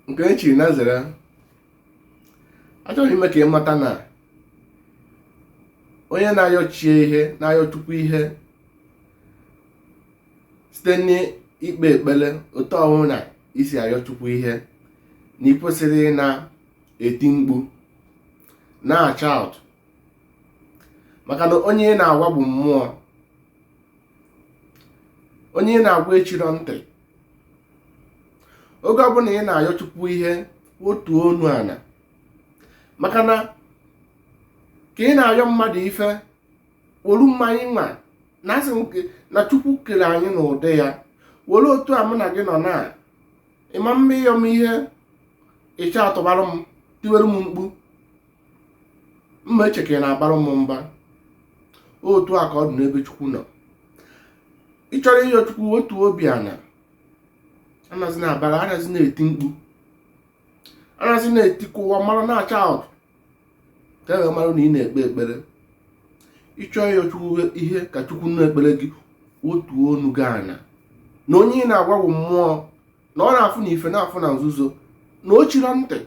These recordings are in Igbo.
nke e chiri na nzere achọrọ m ime ka ị mata na onye na-ayọ chi ihe na-ayọ chukwu ihe site n'ikpe ekpere otu ọbụna i si ayọ chukwu ihe na ị kwesịrọ na-eti mkpu na-ashout maka na onye ị na-agwa bụ mmụọ onye ị na-agwa echirọ ntị oge ọbụla ị na-ayọ chukwu ihe wotuo ọnụ ana maka na ka ị na-ayọ mmadụ ife wolu mmanya nwa na asị nke na chukwu kere anyị n'ụdị ya were otu a mụ na gị nọ na ịma mma ịyọ m ihe ị shoutụbara m tiwere m mkpu m ma eche ka ị na-abara m mba otu a ka ọ dị n'ebe chukwu nọ ị chọrọ ịyọ chukwu wotuo obi ana anazina abara anazina eti mkpu anazina eti ka ụwa mara na-ashout ka e wee mara na ị na-ekpe ekpere ị chọọ ịyọ chukwu ihe ka chukwu nụ ekpere gị wotuo ọnụ gị ana na onye ị na-agwa bụ mmụọ na ọ na-afụ na ife na-afụ na nzuzo na o chirọ ntị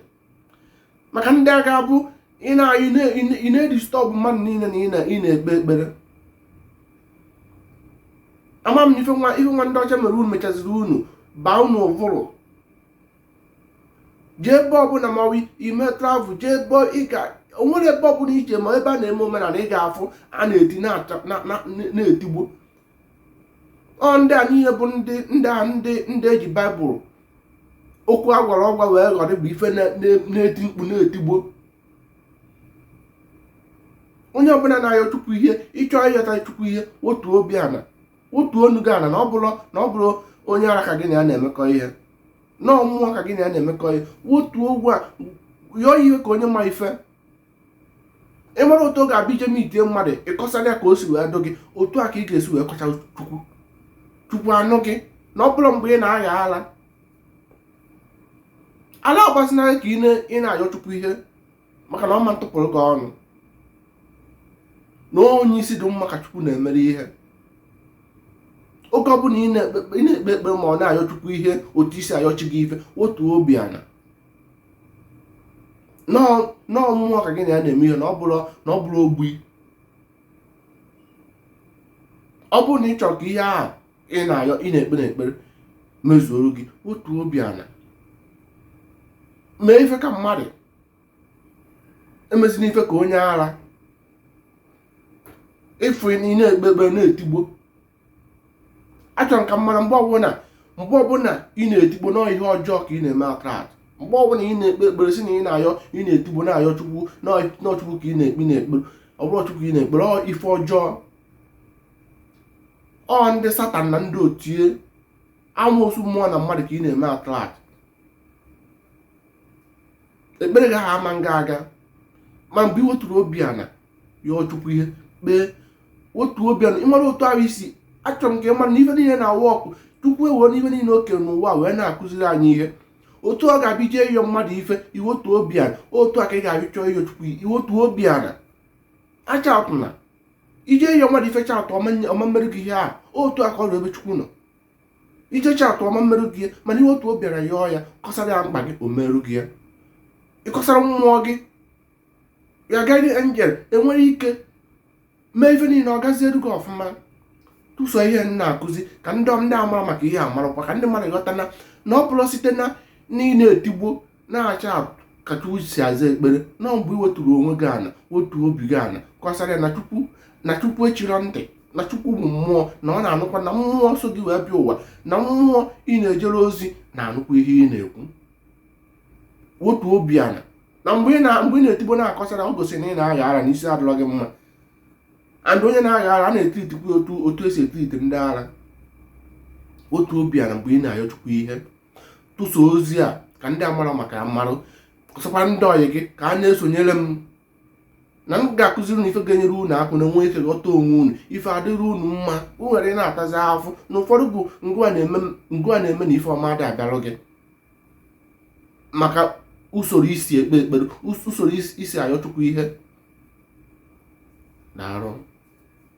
maka ndị a ga-abụ ị na-edistọbụ mmadụ niile na ị na-ekpe ekpere ama m na ife nwa ife nwa ndị ọcha mere unu mechaziri unu baa unu ụvụrụ jee ebe ọbụla ma i mee travel jee ebe ị ga onwere ebe ọbụla i je ma ebe a na-eme omenala ị ga-afụ a na-eti na-etigbo ọ ndị a niile bụ ndị ndị a ndị ndị e ji baịbụl okwu agwara ọgwa wee ghọrọ bụ ife na-eti mkpu na-etigbo onye ọbụla na-ayọ chukwu ihe ị chọọ ịyọta chukwu ihe wotuo obi ana wotuo ọnụ gị ana na ọ bụrọ onye ara ka gị na ya na-emekọ ihe na ọ mmụọ ka gị na ya na-emekọ ihe wotuo ọnụ yọọ ihe ka onye ma ife ị mara otu ọ ga-abụ i jee meetie mmadụ ị kọsara ya ka o si wee dụ gị otu a ka ị ga-esi wee kọsa chukwu chukwu anụ gị na ọ bụrọ mgbe ị na-agba ala ala agbazina ka ị na-ayọ chukwu ihe maka na ọ ma atụpụrụ gị ọnụ na onye isi dị mma ka chukwu na-emere ihe oge ọbụla ị na-ekpe ekpere ma ọ na-ayọ chukwu ihe otu i si ayọ chi gị ife wotuo obi ana na ọ mmụọ ka gị na ya na-eme ihe na ọ bụrọ ogbi ọ bụrụ na ị chọrọ ka ihe ahụ ị na-ayọ ị na-ekpe n'ekpere mezuoro gị wotuo obi ana mee ife ka mmadụ emezina ife ka onye ara ị fụ ị na-ekpe ekpere na-etigbo achọrọ m ka ị mara mgbe ọbụla mgbe ọbụla ị na-etigbo na ọ ihe ọjọọ ka ị na-eme attract mgbe ọbụla ị na-ekpe ekpere si na ị na-ayọ ị na-etigbo na-ayọ chukwu na ọ chukwu ka ị na-ekpe na-ekpere ọ bụrọ chukwu ị na-ekpere ọ ife ọjọọ ọ ndị satan na ndị otu amoosu mmụọ na mmadụ ka ị na-eme attract ekpere gị ha ama nga aga ma mgbe ị wetụrụ obi ana yọọ chukwu ihe kpee wetuo obi ana ị mara otu ahụ isi achọrọ m ka ị mara na ife niile na-awụ ọkụ chukwu ewere ife niile o kere n'ụwa wee na-akụziri anyị ihe otu ọ ga-abịa ije ịyọ mmadụ ife i wetuo obi ana otu a ka ị ga-abịa chọọ ịyọ chukwu i wetuo obi ana achatụna ije ịyọ mmadụ ife chatụ ọ ma mmerụ gị ihe a otu a ka ọ dị ebe chukwu nọ i je chatụ ọ ma mmerụ gị ihe mana i wetuo obi ana yọọ ya kọsara ya mkpa gị o merụ gị ya ị kọsara mmụọ gị ya guardian angel enwere ike mee ife niile ọ gaziere gị ọfụma tụsa ihe m na-akụzi ka ndị ndị amarọ maka ihe a marakwa ka ndị mmadụ ghọta na na ọ bụrọ site na ị na-etigbo na-acha ka chukwu si aza ekpere na mgbe ị weturu onwe gị ana wetu obi gị ana kọsara na chukwu na chukwu echirọ ntị na chukwu bụ mmụọ na ọ na-anụkwa na mmụọ so gị wee bịa ụwa na mmụọ ị na-ejere ozi na-anụkwa ihe ị na-ekwu wetu obi ana na mgbe ị na-etigbo na-akọsara o gosiri na ị na-agha ara na isi adịrọ gị mma and onye na-agha ara a na-etreatikwa otu otu esi etreat ndị ara wetuo obi ana mgbe ị na-ayọ chukwu ihe tụsa ozi a ka ndị amarọ maka ya marụ kọsakwa ndị ọyị gị ka a na-esonyere m na m ga-akụziri unu ife ga-enyere unu aka unu enwe ike ghọta onwe unu ife adịrị unu mma o nwere ị na-atazi ahụfụ na ụfọdụ bụ ngịwa na-eme na ife ọma adị abịarụ gị maka usoro i si ekpe ekpere usoro i si ayọ chukwu ihe na arụ